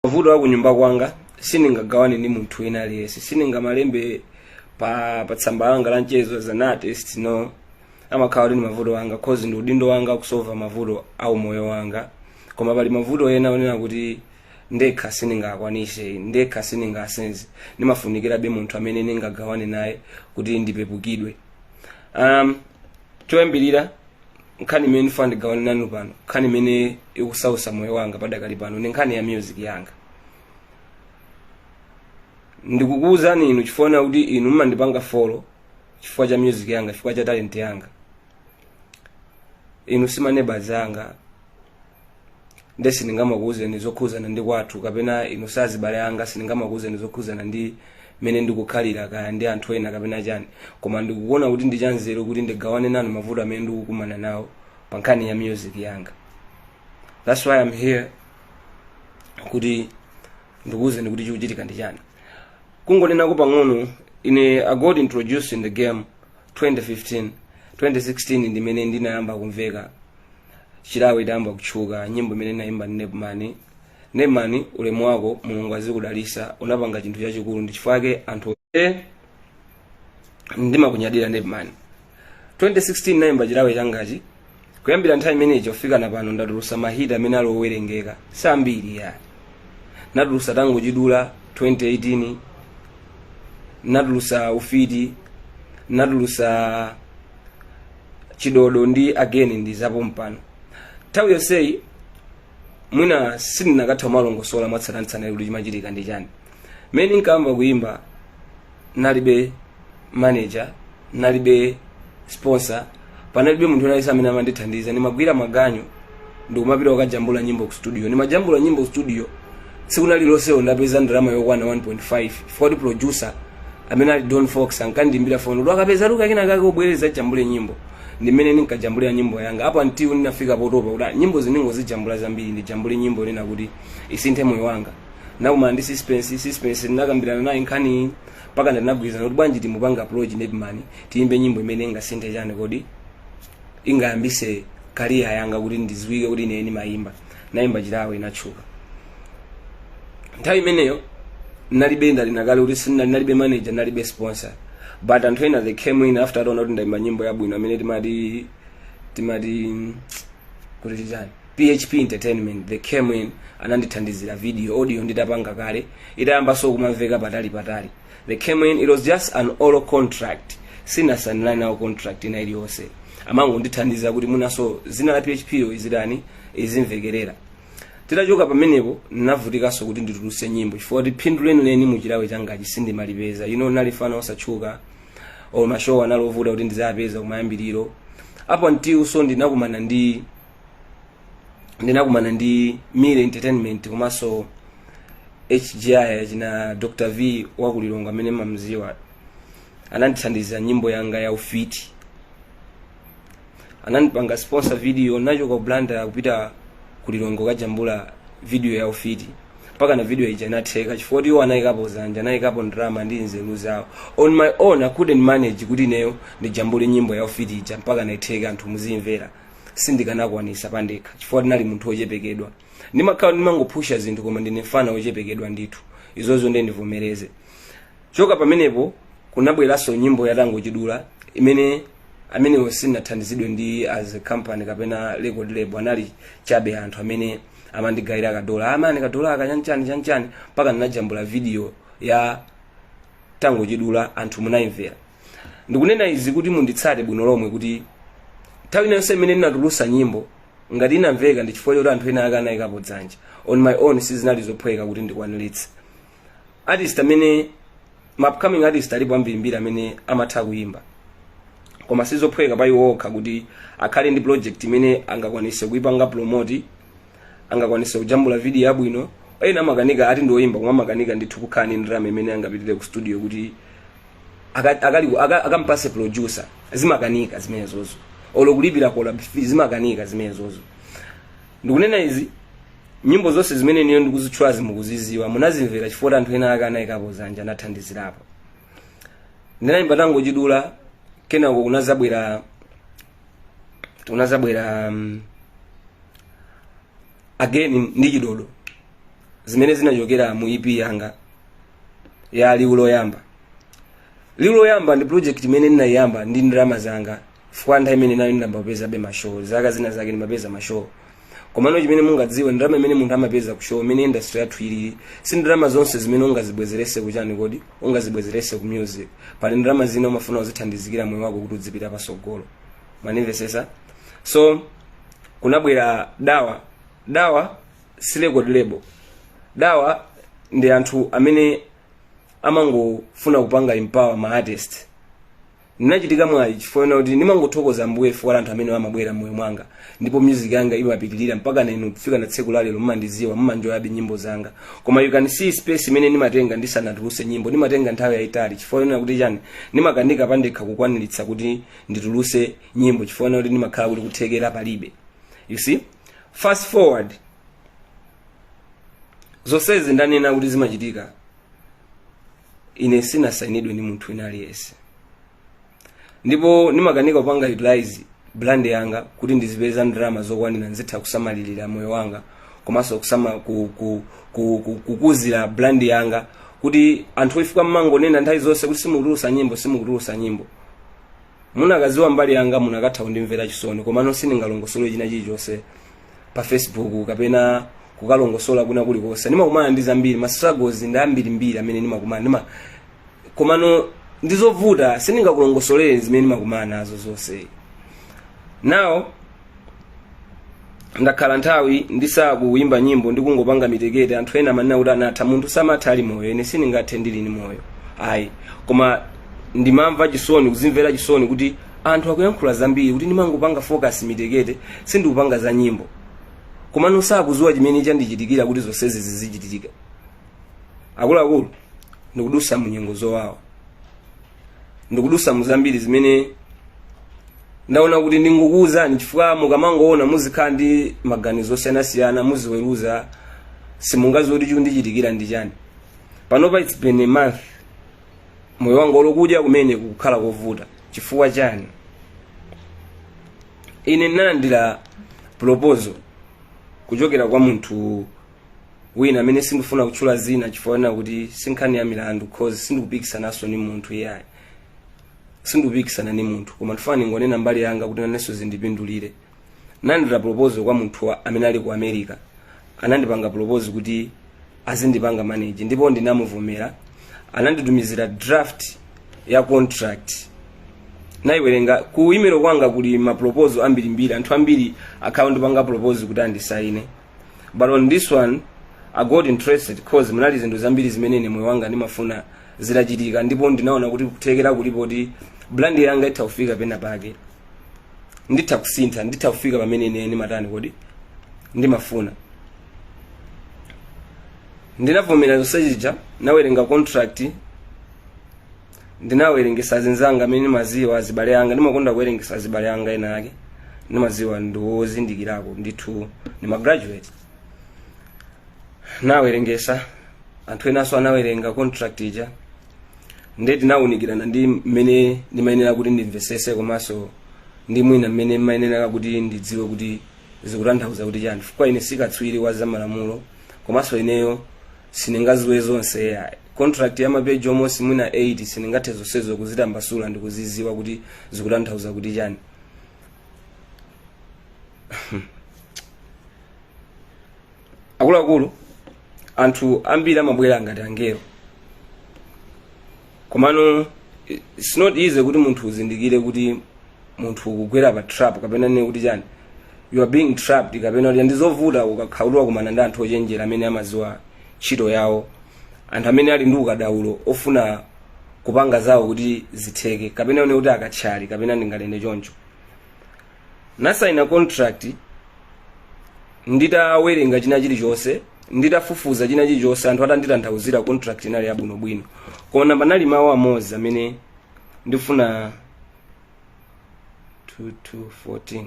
mavuto aku nyumba kwanga sindingagawane ndi munthu wina aliyense sindingamalembe pa pa tsamba langa la mchezo as an artist no amakhala kuti ndi mavuto anga cause ndi udindo wanga kusolva mavuto a umoyo wanga koma pali mavuto ena onena kuti ndekha sindingakwanise ndekha sindingasenze ndimafunikirabe munthu amene ndingagawane naye kuti ndipepukidwe um, choyambirira nkhani imene ndifuna ndigawane nanu pano nkhani imene ikusausa moyo wanga padakali pano ndi nkhani ya music yanga ndikukuwuzani inu chifukwa na kuti inu mumandipanga follow chifukwa cha music yanga chifukwa cha talent yanga inu si maneighbors anga nde sindingamakuwuzeni zokhuzana ndi kwathu kapena inu sazibale anga sindingamakuwuzeni zokhuzana ndi mmene ndikukhalira kaya ndi anthu ena kapena chani koma ndikuona kuti ndi chanzeru kuti ndigawane nanu mavuto amene ndikukumana nawo pa nkhani ya music yanga that's why I'm here kuti ndikuwuzeni kuti chikuchitika ndi chani kungonenako pang'ono ine i got introduced in the game 2015 2016 ndimene ndinayamba kumveka chilawe idayamba kutchuka nyimbo imene nayimba ndi nepman nepman ulemu wako mulungu azikudalisa unapanga chinthu chachikulu ndi chifukwa chake anthu e ndimakunyadira nepman 2016 nayimba chilawe changachi kuyambira nthawi imeneyi kufika na pano ndatulusa mahit amene ali owerengeka si ambiri ya natulusa tango chidula 2018 natulusa ufiti natulusa chidodo ndi again ndi zapompano nthawi yonseyi mwina sindinakatha kumalongosola mwatsatanetsatane kuti chimachitika ndi chani mmene nkayamba kuyimba nalibe manager nalibe sponsor panalibe munthu wina aliyense amene amandithandiza ndimagwira maganyu ndikumapita kukajambula nyimbo ku studio ndimajambula nyimbo ku studio tsiku lililonse ndapeza ndalama yokwana 1.5 chifukwa kuti producer amene ali don fox ankandiimbira foni kuti akapeza luka kina kake ubwere uzajambule nyimbo ndimene ndinkajambulira nyimbo yanga up until ndinafika potopa kuti ah, nyimbozi ndingozijambula zambiri ndijambule nyimbo yonena kuti isinthe moyo wanga nakumana ndi suspense suspense ndinakambirana naye nkhani mpaka ndinagwirizana kuti bwanji timupange approach nepman tiyimbe nyimbo imene ingasinthe chani kodi ingayambise career yanga kuti ndiziwike kuti ine ndimayimba nayimba chilawe inatchuka nthawi imeneyo nalibe ndanena kale kuti sina- nalibe manager nalibe sponsor but anthu ena they came in after ataona kuti ndayimba nyimbo yabwino amene timati timati kuti chani php entertainment they came in anandithandizira video audio nditapanga kale itayambanso kumamveka patali patali they came in it was just an oral contract sindinasainirane nawo contract ina iliyonse amangondithandiza kuti minanso zina la phiphi yo izitani izimvekerera titachoka pamenepo navutikanso kuti ndituluse nyimbo chifukwa kuti phindu lenileni muchilakwe changachi sindimalipeza ine nali mfana osatchuka or mashow anali ovuta kuti ndizapeza kumayambiriro apo mutiwonso ndinakumana ndi ndinakumana ndi mire entertainment komanso hgi achina dr v wakulilongo amene mumamziwa anandithandiza nyimbo yanga ya ufiti anandipanga sponsor video nachoka blantyre kupita kulilongo kajambula video ya ufiti mpakana video ija inatheka chifukwa kuti iwo anayikapo zanja anayikapo ndrama ndi nzeru zawo on my own i couldn't manage kuti ineyo ndijambule nyimbo ya ufiti ija mpakana itheke anthu muzimvera sindikanakwanisa pandekha chifukwa ndinali munthu wochepekedwa ndimakhala ndimangopusha zinthu koma ndili mfana wochepekedwa ndithu izozo ndiye ndivomereze choka pamenepo kunabweranso nyimbo ya tangochidula imene imeneyo sinathandizidwe ndi as a company kapena record label anali chabe anthu amene amandigayira kadola amandi kadola akachanchani chanchani mpaka ndinajambula video ya tangochidula anthu munayimvera ndikunena izi kuti munditsate bwino lomwe kuti nthawi ina iliyonse imene ndinatulusa nyimbo ngati inamveka ndi chifukwa choti anthu ena ake anayikapo dzanja on my own sizinali zophweka kuti ndikwaniritse artist amene ma upcoming artist alipo ambirimbiri amene amatha kuyimba koma sizophweka pa iwo okha kuti akhale ndi project imene angakwanise kuipanga promote angakwanise kujambula video yabwino ena amakanika eti ndi oyimba koma amakanika ndithu kukhala ndi ndalama imene angapitire ku studio kuti Aka- akali- aka- akampase producer zimakanika zimenezozo olo kulipira collab fee zimakanika zimenezozo ndikunena izi nyimbo zonse zimene ineyo ndikuzitchulazi mukuziziwa munazimvera chifukwa anthu ena ake anayikapo zanja anathandizirapo ndinayimba tangochidula kenako kunazabwera kunazabwera um, again ndi chidodo zimene zinachokera mu ep yanga ya liwu loyamba liwu loyamba ndi project imene ndinayiyamba ndi ndalama zanga chifukwa nthawi imeneyo ndimapezabe mashow zaka zina zake ndimapeza mashow komano chimene mungadziwe ndalama imene munthu amapeza kushow imene industry yathu ilili si ndalama zonse zimene ungazibwezerese kuchani koti ungazibwezerese ku music pali ndalama zina umafuna uzithandizire moyo wako kuti udzipita pasogolo mukundimvesesa so kunabwera dawa dawa si record label awa ndi anthu amene amangofuna kupanga empower ma artist ndinachitika mwayi chifukwa chonena kuti ndimangothokoza ambuye chifukwa cha anthu amene amabwera mmoyo mwanga ndipo music yanga imapitirira mpaka nanu kufika na tsiku la lero mmandiziwa mmanjoyabe nyimbo zanga koma you can see space imene ndimatenga ndisanatuluse nyimbo ndimatenga nthawi yayitali chifukwa chonena kuti chani ndimakanika pandekha kukwaniritsa kuti ndituluse nyimbo chifukwa chonena kuti ndimakhala kuti kuthekera palibe you see fast forward zonsezi ndanena kuti zimachitika ine sinasainidwe ndi munthu wina aliyense ndipo ndimakanika kupanga utilize brand yanga kuti ndizipeza ndalama zokwanira ndizitha kusamalirira moyo wanga komanso kusama ku, ku, ku, ku, kukuzira brand yanga kuti anthu chifukwa mmangonena nthawi zonse kuti simukutulusa nyimbo simukutulusa nyimbo munakaziwa mbali yanga munakatha kundimvera chisoni komano sindingalongosole china chilichonse pa facebook kapena kukalongosola kwina kulikonse ndimakumana ndi zambiri ma struggles ndi ambirimbiri amene ndimakumana nawo komano ndizovuta sindingakulongosolere zimene ndimakumana nazo zonse now ndakhala nthawi ndisakuyimba nyimbo ndi kungopanga mitekete anthu ena amanena kuti anatha munthu samatha ali moyo ine sindingathe ndili ni moyo ayi koma ndimamva chisoni kuzimvera chisoni kuti anthu akuyankhula zambiri kuti ndimangopanga focus mitekete sindikupanga za nyimbo komano sakuziwa chimene chandichitikira kuti zonsezi zizichitika akuluakulu ndikudusa munyengo zowawa ndikudusa mu zambiri zimene ndaona kuti ndingokuuzani chifukwa mukamangoona muzikhala ndi maganizo osiyanasiyana muziweruza simungaziwe kuti chikundichitikira ndi chani panopa its been a month moyo wanga olo kudya kumene kukukhala kovuta chifukwa chani ine ndinalandira proposal kuchokera kwa munthu wina amene sindifuna kutchula zina chifukwa chonena kuti sinkhani ya milandu cause sindikupikisanaso ni munthu iyayi sindikupikisana ni munthu koma ndifuna ningonena mbali yanga kuti nanenso zindipindulire nalandira proposal kwa munthu wa- amene ali ku america anandipanga propose kuti azindipanga manage ndipo ndinamuvomera ananditumizira draft ya contract naiwerenga ku email kwanga kuli maproposal ambirimbiri anthu ambiri akhala akundipanga propose kuti andisaine but on this one i got interested cause munali zinthu zambiri zimene ine moyo wanga ndimafuna zitachitika ndipo ndinaona kuti kuthekera kulipo kuti brand yanga itha kufika pena pake nditha kusintha nditha kufika pamene ine ndimatani kodi ndimafuna ndinavomera zonsezija nawerenga contract ndinawerengesa zinzanga amene ndimaziwa azibale anga ndimakonda kuwerengesa azibale anga ena ake ndimaziwa ndiwozindikirako ndithu ndi magraduate nawerengesa anthu enanso anawerenga contract ija nde tinawunikirana ndi mmene ndimayenera kuti ndimvesese komanso ndi mwina mmene ndimayenera kuti ndidziwe kuti zikutanthauza kuti chani chifukwa ine sikatswiri wa zamalamulo komanso ineyo sindingaziwe zonse ayi contract ya mapeji almost mwina 8 sindingathe zonsezo kuzitambasula ndi kuziziwa kuti zikutanthauza kuti chani akuluakulu anthu ambiri amabwera ngati angelo komano it's not easy kuti munthu uzindikire kuti munthu ukugwera pa trap kapena ndinene kuti chani you are being trapped kapena kuti ndizovuta ukakhala kuti wakumana ndi anthu ochenjera amene amaziwa ntchito yawo anthu amene ali ndi ukadaulo ofuna kupanga zawo kuti zitheke kapena unene kuti akatchali kapena ndinganene choncho nasaina contract nditawerenga china chilichonse nditafufuza china chilichonse anthu atanditanthauzira contract inali yabwinobwino koma panali mawu amodzi amene ndifuna 2214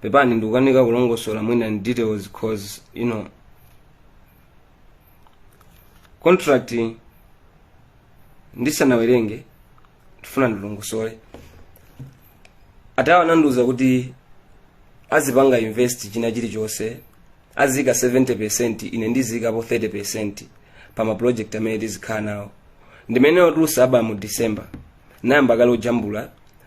pepani ndikukanika kulongosola mwina in details cause you know contract ndisanawerenge ndifuna ndilongosole atawo anandiuza kuti azipanga invest china chilichonse aziika 70 percent ine ndiziikapo 30 percent pa maproject amene tizikhala nawo nde mmene wotulusa album mu december nayamba kale kujambula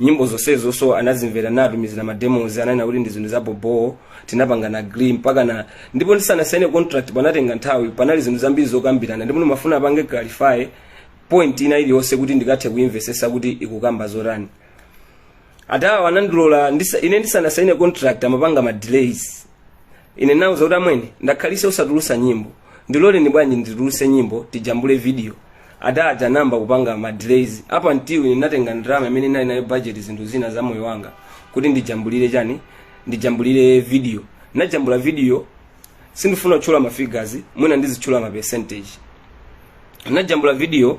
nyimbo zonsezonso anazimvera natumizira ma demos ananena kuti ndi zinthu za bobowo tinapanga agree pakana ndipo ndisanasaine contract panatenga nthawi panali zinthu zambiri zokambirana ndipo ndimafuna apange clarify point ina iliyonse kuti ndikathe kuimvesesa kuti ikukamba zotani atawa anandilola ine ndisanasaine contract amapanga ma delays ine nawauza kuti amwene ndakhalisa osatulusa nyimbo ndiloleni bwanji ndituluse nyimbo tijambule video adaja nayamba kupanga madelays up until ine natenga ndalama imene ndinali nayo budget zinthu zina za moyo wanga kuti ndijambulire chani ndijambulire video najambula video sindifuna kutchula ma figures mwina ndizitchula ma percentage najambula video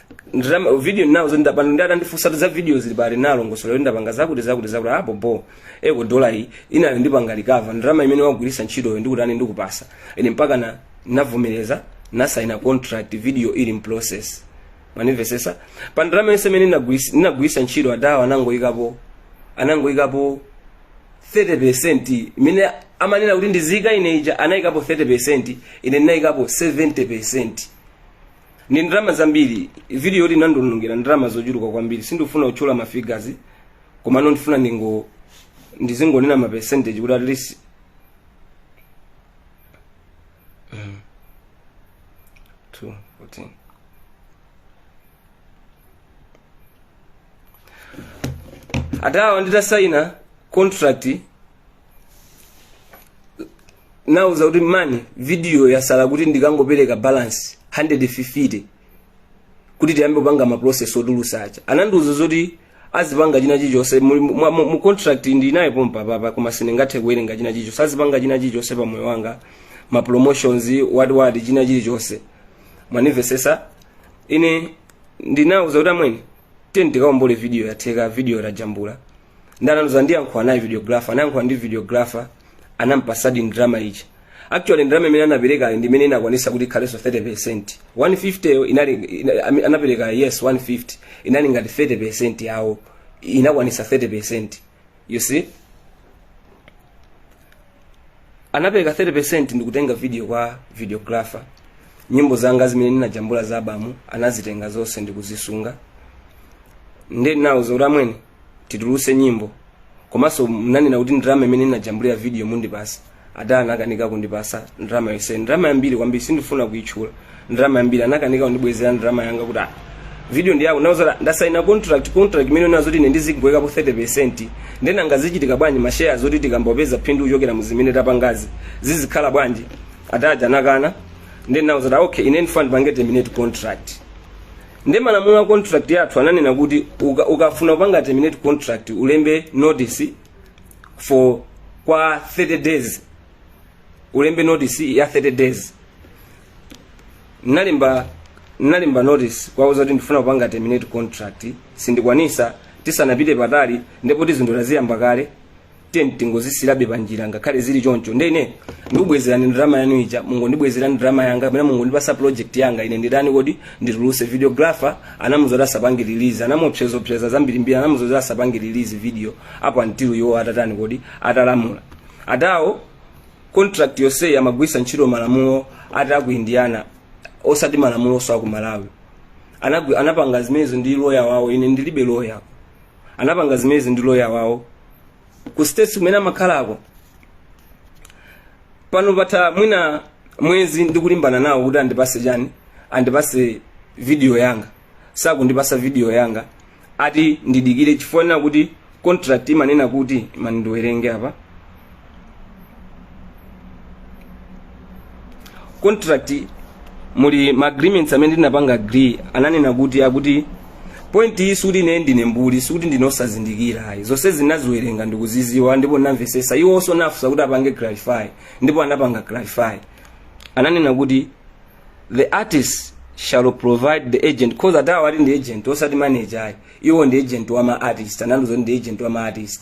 nditama video nawo zoti ndapanga ndi atandifunsa za video zili pati nalongosola zoti ndapanga zakuti zakuti zakuti apo bo eko dola iyi inali ndipanga recover ndalama imene wagwiritsa ntchitoyo ndikutani ndikupasa ine mpaka na navomereza nasaina contract video ili mprocess mwanimvesesa pa ndalama yonse imene ndinagwiritsa- ndinagwiritsa ntchito adawa anangoyikapo anangoyikapo 30% imene amanena kuti ndiziyika ine ija anayikapo 30% ine ndinayikapo 70% ndi ndalama zambiri video yoti inandionongera ndalama zochuluka kwambiri sindifuna kutchula ma figures komano ndifuna ndingo ndizingonena ma percentage kuti at least Mm. Two, fourteen. adawa nditasaina contract nauza kuti mani video yasala kuti ndikangopereka balance 150 kuti tiyambe kupanga ma process otulusa aja anandiuza zoti azipanga china chichonse mu- mu- mu mu contract ndinayo pompa papa koma sindingathe kuwerenga china chichonse azipanga china chichonse pa moyo wanga ma promotions what what china chilichonse mwanimvesesa ine ndinauza kuti amwene tiyeni tikaombole video yatheka video tajambula ndi anandiuza ndiyankhula naye videographer anayankhula ndi videographer anampasadi ndrama which actually ndrama imene anaperekayo ndi imene inakwanisa kuti ikhalenso 30% 150 yo inali ina- ami- anapereka yes 150 inali ngati 30% yawo inakwanisa 30% you see anapereka 30% ndikutenga video kwa videographer nyimbo zanga zimene ndinajambula za album anazitenga zonse ndikuzisunga ndinawauza kuti amwene tituluse nyimbo komanso mnanena kuti ndrama imene inajambulira video mundipasa ada anakanika kundipasa ndrama yonse ndrama yambiri kwambiri sindifuna kuitchula ndrama yambiri anakanika kundibwezera ndrama yanga kuti ah, video ndi yako nauza ada ndasaina contract contract imene unandiuza kuti ine ndizingoyikapo 30% nde nanga zichitika bwanji mashares zoti tikayamba kupeza phindu kuchokera muzimene tapangazi zizikhala bwanji adaja anakana nde ndinauza ada okay ine ndifuna ndipange terminate contract ndi malamulo a contract yathu ananena kuti uka- ukafuna kupanga terminate contract ulembe notice for kwa 30 days ulembe notice ya 30 days nalemba nalemba notice kuwauza kuti ndifuna kupanga terminate contract sindikwanisa tisanapite patali ndipo tizindula ziyamba kale then tingozisilabe panjira ngakhale zili choncho ndene ndikubwezerani ndalama yanu ija mungondibwezerani ndalama yanga kapena mungondipasa project yanga ine nditani kodi ndituluse videographer anamuuza kuti asapange release anamuopsezaopseza zambirimbiri anamuuza kuti asapange release video apo until iwo atatani kodi atalamula adawo contract yonseyi amagwisa ntchito malamulo ati aku indiana osati malamuloso aku malawi Anagwi- anapanga zimenezo ndi loya wawo ine ndilibe loya anapanga zimezi ndi loya wawo ku states kumene amakhalako pano patha mwina mwezi ndikulimbana nawo kuti andipase chani andipase video yanga sakundipasa video yanga ati ndidikire chifukwa kuti contract imanena kuti imani ndiwerenge apa contract muli ma agreements amene ndinapanga agree ananena kuti akuti point iyi sikuti ine ndine mbuli sikuti ndine osazindikira ayi zonse ndinaziwerenga ndikuziziwa ndipo ndinamvesesa iwonso nafunsa kuti apange clarify ndipo anapanga clarify ananena kuti the artist shall provide the agent cause adawa ati ndi agent osati manager ayi iwo ndi agent wa ma artist anandiuza kuti ndi agent wa ma artist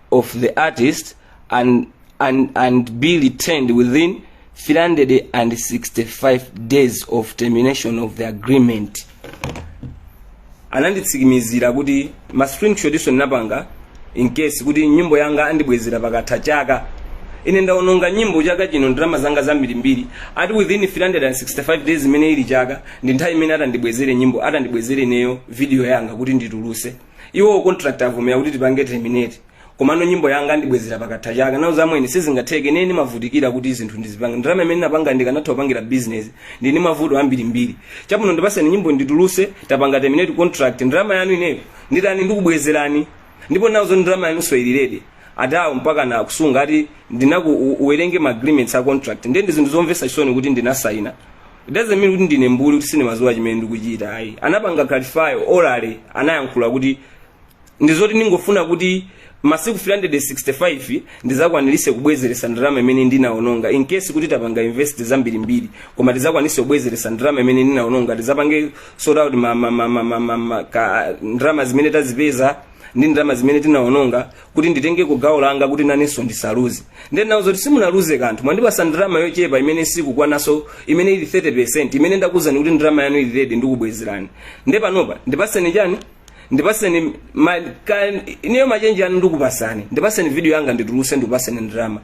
of the artist and, and, and be returned within 365 days of termination of the agreement ananditsikimizira kuti ma screenshotso ndinapanga in case kuti nyimbo yanga andibwezera pakatha chaka ine ndaononga nyimbo chaka chino ndalama zanga zambirimbiri ati within 365 days imene ili chaka ndi nthawi imene atandibwezere nyimbo atandibwezere ineyo video yanga kuti ndituluse iwo contract avomera kuti tipange terminate komano nyimbo yanga andibwezera pakatha chaka nawauza amwene sizingatheke ine ndimavutikira kuti zinthu ndizipange ndalama imene napanga ndikanatha kupangira business ndili ndi mavuto ambirimbiri chabwino ndipaseni nyimbo ndituluse tapanga terminate contract ndalama yanu ineyo nditani ndikubwezerani ndipo nawauza ndalama yanuso ili ready adawo mpakana kusunga ati ndinakuuza uwerenge ma agreements a contract ndiye ndi zinthu zomvesa chisoni kuti ndinasayina It doesn't mean kuti ndine mbuli kuti sindimaziwa chimene ndikuchita ayi anapanga clarify orally anayankhula kuti ndizoti ndingofuna kuti masiku 365 ndizakwanilise kubwezeresa ndalama imene ndinaononga in case kuti tapanga invest zambirimbiri koma tizakwanise kubwezeresa ndalama imene ndinaononga tizapange sort out ma, ma, ma, ma, ma, ma, ma, ka, ndalama zimene tazipeza ndi ndalama zimene tinaononga kuti nditengeko gawo langa kuti nanenso ndisaluze ndiye nawauza kuti simunaluze kanthu mwandipasa ndalama yochepa imene sikukwanaso imene ili 30% imene ndakuuzani kuti ndalama yanu ili ready ndikubwezerani nde panopa ndipaseni chani ndipaseni ma, ka, ineyo machenji anu ndikupasani ndipaseni video yanga ndituluse ndikupaseni ndalama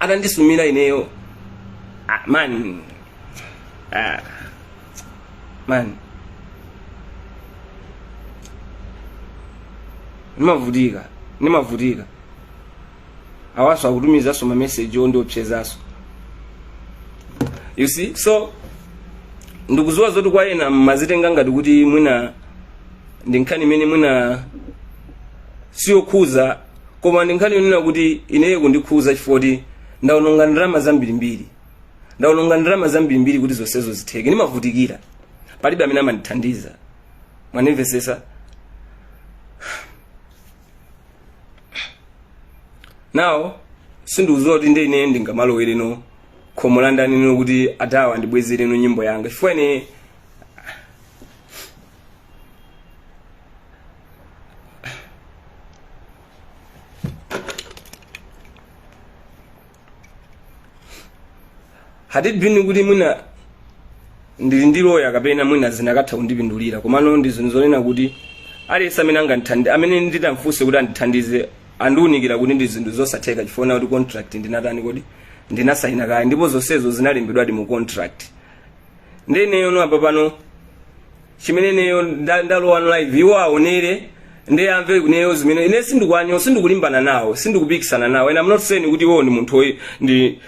atandisumira ineyo ah, man ah, man ndimavutika ndimavutika awanso akutumizanso mameseji ondiopsezanso you see so ndikuziwa zoti kwa ena mmazitenga ngati kuti mwina ndi nkhani imene mwina siyokhuza koma ndi nkhani yonena kuti ineyo kundikhuza chifukwa kuti ndaononga ndalama zambirimbiri ndaononga ndalama zambirimbiri kuti zonsezo zitheke ndimavutikira palibe amene amandithandiza mwanimvesesa now sindikuziwa kuti ndi ine ndingamalowereno khomo landani no kuti adawa ndibwezereno nyimbo yanga chifukwa ine had it been kuti mwina ndili ndi loya kapena mwina zinakatha kundipindulira komano ndi zinthu zonena kuti aliyense amene angandithandi amene nditamfunse kuti andithandize andiunikira kuti ndi zinthu zosatheka chifukwa kuti contract ndinatani kodi ndinasayina kale ndipo zonsezo zinalembedwadi mu contract nde ineyono apa pano chimene ineyo nda- ndalowa live iwo aonere ndi amve ineyo zimene ine sindikuwanyo sindikulimbana nawo sindikupikisana nawo and i'm not saying kuti iwo ndi munthu oyi- ndi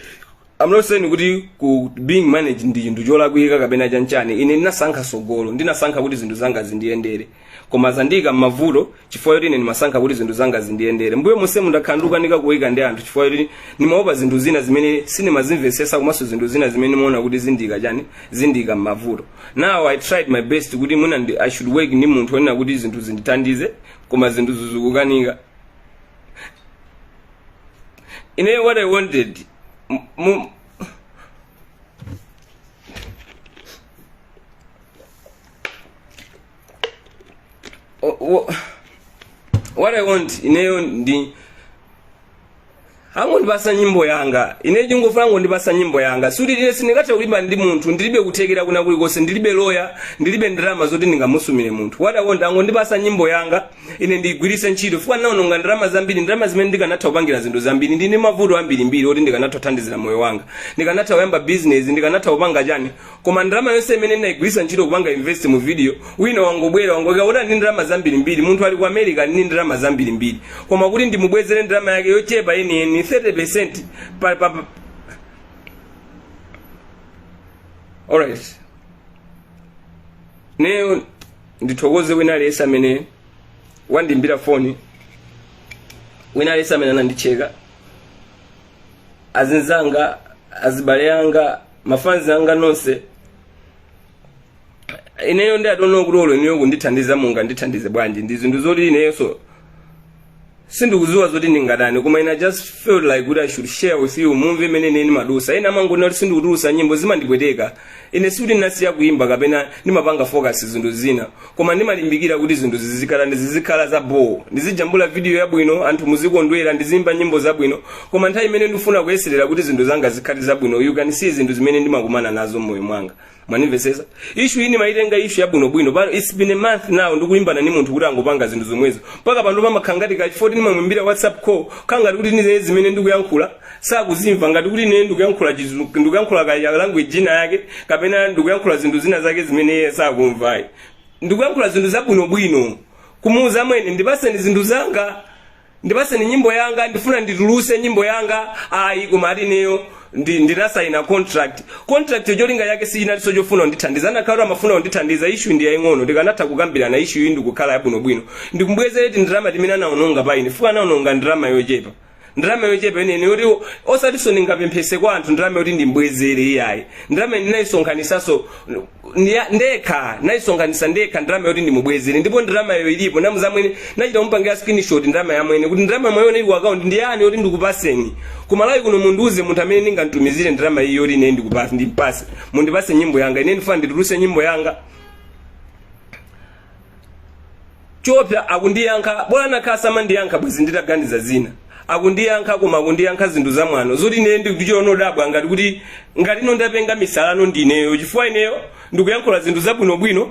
I'm not saying kuti ku being managed ndi chinthu cholakwika kapena chanchani ine ndinasankha sogolo ndinasankha kuti zinthu zanga zindiyendere koma zandiika m'mavuto chifukwa choti ine ndimasankha kuti zinthu zanga zindiyendere mbuyo monsemu ndakhala ndikukanika kuwika ndi anthu chifukwa choti ndimaopa zinthu zina zimene sindimazimvetsetsa komanso zinthu zina zimene ndimaona kuti zindiika chani zindiika m'mavuto now i tried my best kuti mwina ndi- i should work ndi munthu onena kuti zinthu zindithandize koma zinthu zikukanika ine what i wanted m- mu- O- o- what i want ineyo ndi angondipasa nyimbo yanga ine ndingofuna angondipasa nyimbo yanga sikuti ine sindingathe kulimba ndi munthu ndilibe kuthekera kwina kulikonse ndilibe loya ndilibe ndalama zoti ndingamusumire munthu what i want angondipasa nyimbo yanga ine ndigwiritse ntchito chifukwa naononga ndalama zambiri ndalama zimene ndikanatha kupangira zinthu zambiri ndili ndi mavuto ambirimbiri oti ndikanatha kuthandizira moyo wanga ndikanatha kuyamba bizinesi ndikanatha kupanga chani Koma ndalama yonse imene ndinaigwiritsa ntchito kupanga invest mu video, wina wangobwera wangoika kuti ali ndi ndalama zambirimbiri, munthu ali ku America ali ndi ndalama zambirimbiri. Koma kuti ndimubwezere ndalama yake yochepa yeniyeni 30% pa, pa, pa. Alright. Neyo ndithokoze wina aliyense amene wandiimbira foni wina aliyense amene anandicheka azinzanga azibale anga mafanzi anga nonse ineyo ndi I don't know kuti olo ineyo kundithandiza mungandithandize bwanji ndi zinthu zoti ineyonso sindikuziwa zoti ndingatani koma ine I just felt like kuti i should share with you mumve imene ine ndimadusa ena amangoona kuti sindikutulusa nyimbo zimandipweteka ine sikuti ndinasiya kuimba kapena ndimapanga focus zinthu zina koma ndimalimbikira kuti zinthu zizikhala ndi zizikhala za boo ndizijambula vidiyo yabwino anthu muzikondwera ndiziimba nyimbo zabwino koma nthawi imene ndifuna kuyeserera kuti zinthu zanga zikhale zabwino you can see zinthu zimene ndimakumana nazo mmoyo mwanga mwanimvesesa ishu ini ndimaitenga ishu yabwinobwino pano its been a month now ndikulimbana ni munthu kuti akungopanga zinthu zomwezo mpaka pano pamakhala ngati kachi forty ndimamwimbira whatsapp call kangati kuti ndidziwe zimene ndikuyankhula sakuzimva ngati kuti ine ndikuyankhula chizu- ndikuyankhula ka language ina yake kapena ndikuyankhula zinthu zina zake zimene iye sakumvayi ndikuyankhula zinthu zabwinobwino kumuuza amwene ndipaseni zinthu zanga ndipaseni nyimbo yanga ndifuna ndituluse nyimbo yanga ayi koma ati ineyo ndi- ndinasaina contract contract yo cholinga yake siyinalinso chofuna kundithandiza anakakhala amafuna kundithandiza ishu ndi yaying'ono tikanatha kukambirana ishu iyi ndikukhala yabwinobwino ndikumbwezera tindalama timene anaononga pa ine chifukwa anaononga ndalama yochepa ndalama yochepa yeniyeni yoti osatinso ndingapemphese kwa anthu ndalama yoti ndimbwezere iyayi ndalama ndinayisonkhanisanso ndekha nayisonkhanisa ndekha ndalama yoti ndimubwezere ndipo ndalamayo ilipo namuuza amwene nachita kumupangira screenshot ndalamayo amwene kuti ndalama mwaiona ili ku account ndi iyi yoti ndikupaseni ku Malawi kuno mundiuze munthu amene ndingamtumizire ndalama iyi yoti ine ndikupase ndipase mundipase nyimbo yanga ine ndifuna ndituluse nyimbo yanga choopsa akundiyankha bola anakakhala samandiyankha bwezi nditaganiza zina akundiyankha koma akundiyankha zinthu zamwano zoti ineyo ndikuchita kudabwa ngati kuti ngati ine ndapenga misala ndi ineyo chifukwa ineyo ndikuyankhula zinthu zabwinobwino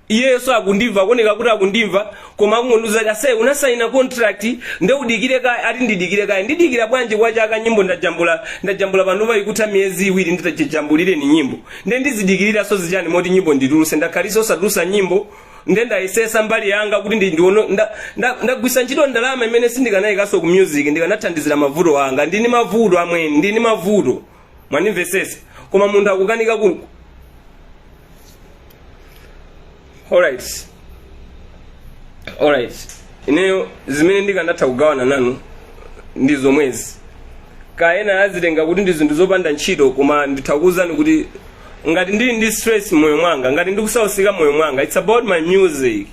iyeso akundimva akuoneka kuti akundimva koma akungondiuza kuti ase unasaina contract nde udikire kaye ati ndidikire kaye ndidikira bwanji kwachaka nyimbo ndajambula ndajambula panopa ikutha miyezi iwiri nditajambulireni nyimbo nde ndizidikiriraso zichani moti nyimbo ndituluse ndakhaliso osatulusa nyimbo nde ndayesesa mbali yanga kuti ndi ndiono nda- nda- ndagwisa ntchito ndalama imene sindikanayikanso ku music ndikanathandizira mavuto anga ndini mavuto amwene ndini mavuto mwanimvesesa koma munthu akukanika ku alright alright ineyo zimene ndinakatha kugawana nanu ndi zomwezi kaya ena azitenga kuti ndi zinthu zopanda ntchito koma nditha kuuzani kuti ngati ndili ndi stress moyo mwanga ngati ndikusausika moyo mwanga it's about my music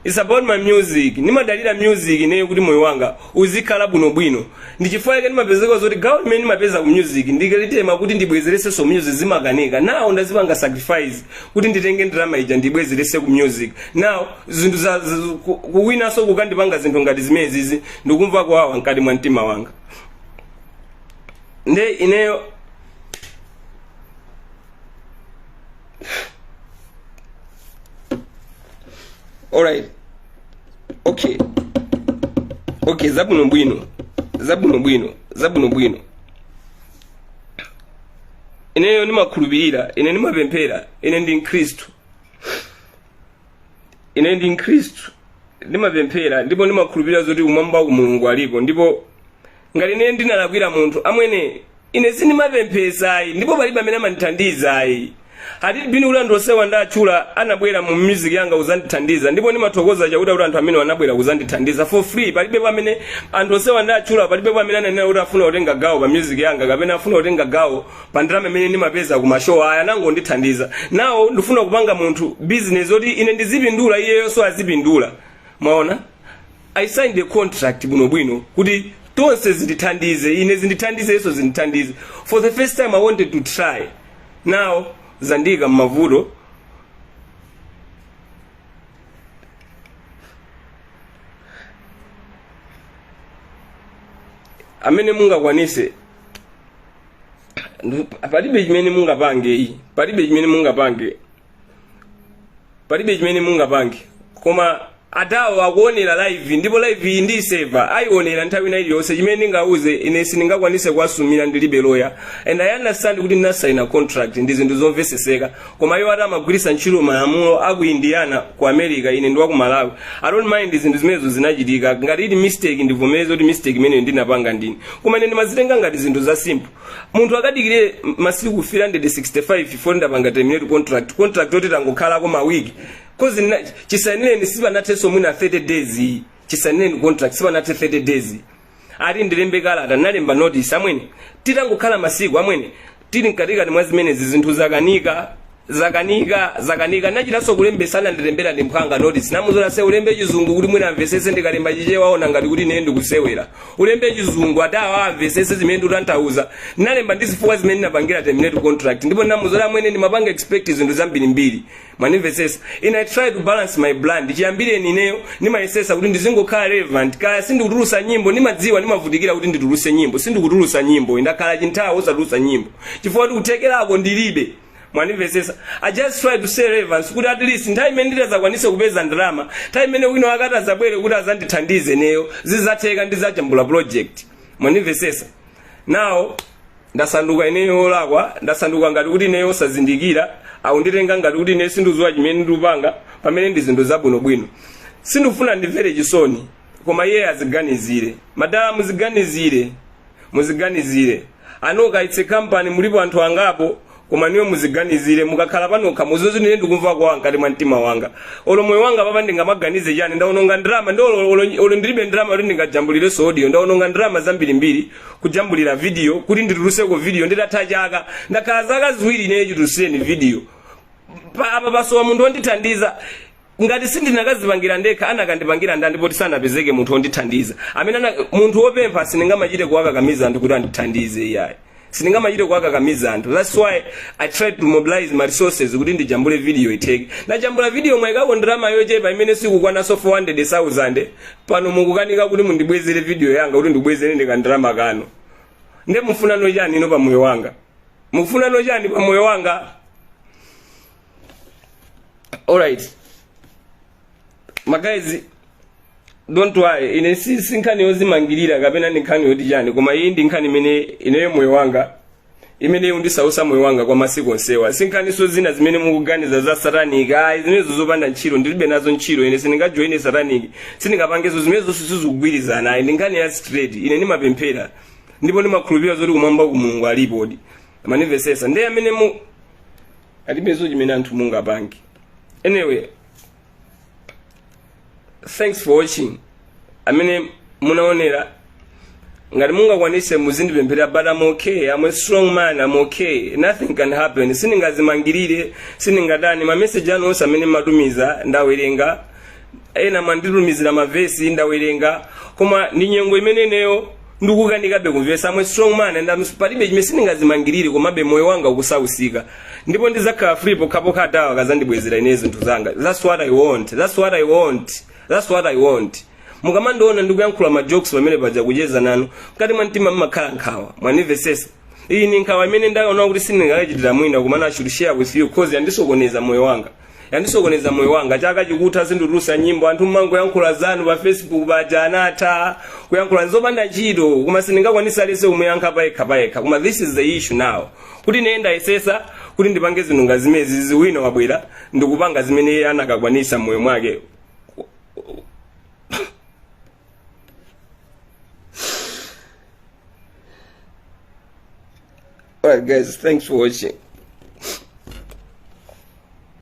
it's about my music ndimadalira music ineyo kuti moyo wanga uzikhala bwinobwino ndi chifukwa chake ndimapezeka zoti gawo limene ndimapeza ku music ndikalitema kuti ndibwezeresenso ku music zimakanika nawo ndazipanga sacrifice kuti nditenge ndalama ija ndibwezerese ku music now zinthu za za- ku- kuwinanso kukandipanga zinthu ngati zimenezizi ndikumva kuwawa mkati mwa mtima wanga nde ineyo alright okay okay zabwinobwino zabwinobwino zabwinobwino ineyo ndimakhulupirira ine ndimapemphera ine ndi mkhristu ine ndi mkhristu ndimapemphera ndipo ndimakhulupirira zoti kumwamba ku mulungu alipo ndipo ngati ine ndinalakwira munthu amwene ine sindimapemphesayi ndipo palibe amene amandithandizayi atiti bini kuti anthu onsewa ndatchula anabwera mu music yanga kuzandithandiza ndipo ndimathokoza chakuti kuti anthu amene anabwera kuzandithandiza for free palibe pamene anthu onsewa ndatchula palibe pamene ananena kuti afuna kutenga gawo pa music yanga kapena afuna kutenga gawo pa ndalama imene ndimapeza ku mashow ayi anangondithandiza now ndifuna kupanga munthu business yoti ine ndizipindula iyeyonso azipindula mwaona i signed a contract bwinobwino kuti tonse zindithandize ine zindithandize iwonso zindithandize for the first time i wanted to try now zandika mmavuto amene mungakwanise palibe chimene mungapange iyi palibe chimene mungapange palibe chimene mungapange koma adawa akuonera live ndipo live iyi ndiiseva ayionera nthawi ina iliyonse chimene ndingauze ine sindingakwanise kuwasumira ndilibe loya and i understand kuti ndinasaina contract ndi zinthu zomveseseka koma iwo ati amagwiritsa ntchito malamulo a ku indiana ku america ine ndi wa ku malawi i don't mind zinthu zimenezo zinachitika ngati ili mistake ndivomereze kuti mistake imeneyo ndinapanga ndine koma ine ndimazitenga ngati zinthu za simple munthu akadikire masiku 365 before ndapanga terminate contract contract yoti tangokhalako mawiki coz chisainireni sipanathenso mwina 30 days iyi chisainireni contract sipanathe 30 days iyi ati ndilembe kalata nalemba notice amwene titangokhala masiku amwene tili mkatikati mwa zimenezi zinthu zakanika zakanika zakanika nachitanso kulembesa anandilembera ndi mphwanga notice namuuza olo ase ulembe chizungu kuti mwina amvesese ndikalemba chichewa aona ngati kuti ine ndikusewera ulembe chizungu adawa amvesese zimene ndikutanthauza nalemba ndi zifukwa zimene ndinapangira terminate contract ndipo namuuza olo amwene ndimapanga expect zinthu zambirimbiri mwanimvetsetsa ine i try to balance my brand chiyambireni ineyo ndimayesesa kuti ndizingokhala relevant kaya sindikutulusa nyimbo ndimadziwa ndimavutikira kuti ndituluse nyimbo sindikutulusa nyimbo ndakhala chinthawi osatulusa nyimbo chifukwa kuti kuthekerako ndilibe mwanimvetsetsa i just try to stay relevant kuti at least nthawi imene nditazakwanise kupeza ndalama nthawi imene wina akati azabwere kuti azandithandize ineyo zizatheka ndizajambula project mwanimvetsetsa now Ndasanduka ineyo olakwa, ndasanduka ngati kuti ineyo osazindikira, akunditenga ngati kuti ineyo sinduziwa chimene ndupanga, pamene ndi zinthu zabwino bwino. Sindufuna andimvere chisoni, koma iye aziganizire. Madala muziganizire, muziganizire. Anoka it's a company mulipo anthu angapo, koma niwe muziganizire mukakhala panokha muzuzi nine ndikumva kuwawa mkati mwa mtima wanga olo moyo wanga papa ndingamaganize chani ndaononga ndalama ndi olo- olo- olo ndilibe ndalama kuti ndingajambulirenso audio ndaononga ndalama zambirimbiri kujambulira video kuti nditulutseko video nditatha chaka ndakhala zaka ziwiri ineyo chitulusireni video pa apa pasowa munthu wondithandiza ngati sindinakazipangira ndekha anakandipangira ndani poti sanapezeke munthu wondithandiza amene ana, munthu wopempha sindingamachite kuwakakamiza anthu kuti andithandize iyayi sindingamachite kuwakakamiza anthu that's why i tried to mobilize my resources kuti ndijambule video itheke ndajambula video mwaikako ndalama yochepa imene sikukwananso 400000 pano mukukanika kuti mundibwezere video yanga kuti ndibwezere ndikandalama kano nde mufunano chani ino pa moyo wanga mukufunano chani pa moyo wanga alright my guys don't worry ine si nkhani yozimangirira kapena ndi nkhani yoti chani koma iyi ndi nkhani imene ineyo moyo wanga imene undisausa moyo wanga kwa masiku onsewa si nkhaniso zina zimene mukuganiza za satanic ayi zimenezo zopanda ntchito ndilibe nazo ntchito ine sindingajoine satanic sindingapangezo zimenezo sizikugwirizana ayi ndi nkhani ya straight ine ndimapemphera ndipo ndimakhulupirira zoti kumwamba Mulungu alipodi mwanimvesesa ndiye amene mu alibezo chimene anthu mungapange anyway thanks for watching amene munaonera ngati mungakwanise muzindipemphera but I'm okay I'm a strong man I'm okay nothing can happen sindingazimangirire sindingatani mameseji anu onse amene mmatumiza ndawerenga ena mwanditumizira mavesi ndawerenga koma ndi nyengo imene ineyo ndikukanikabe kumvesa I'm a strong man and I'm, palibe chimene sindingazimangirire komabe moyo wanga ukusausika ndipo ndizakhala free pokhapokha awa akazandibwezera ine zinthu zanga that's what i want that's what i want that's what i want mukamandiona ndikuyankhula ma jokes pamene paja kucheza nanu mkati mwa mtima mmakhala nkhawa mwanimvesesa iyi ni nkhawa imene ndaona kuti sindingachitire mwina koma I should share with you cause yandisokoneza moyo wanga yandisokoneza moyo wanga chaka chikutha sinditulusa nyimbo anthu mmangoyankhula zanu pa facebook paja anatha kuyankhula zopanda ntchito koma sindingakwanisa lese umuyankha payekha payekha koma this is the issue now kuti ine ndayesesa kuti ndipange zinthu ngati zimenezi wina wabwera ndikupanga zimene iye anakakwanisa moyo mwake Alright guys, thanks for watching.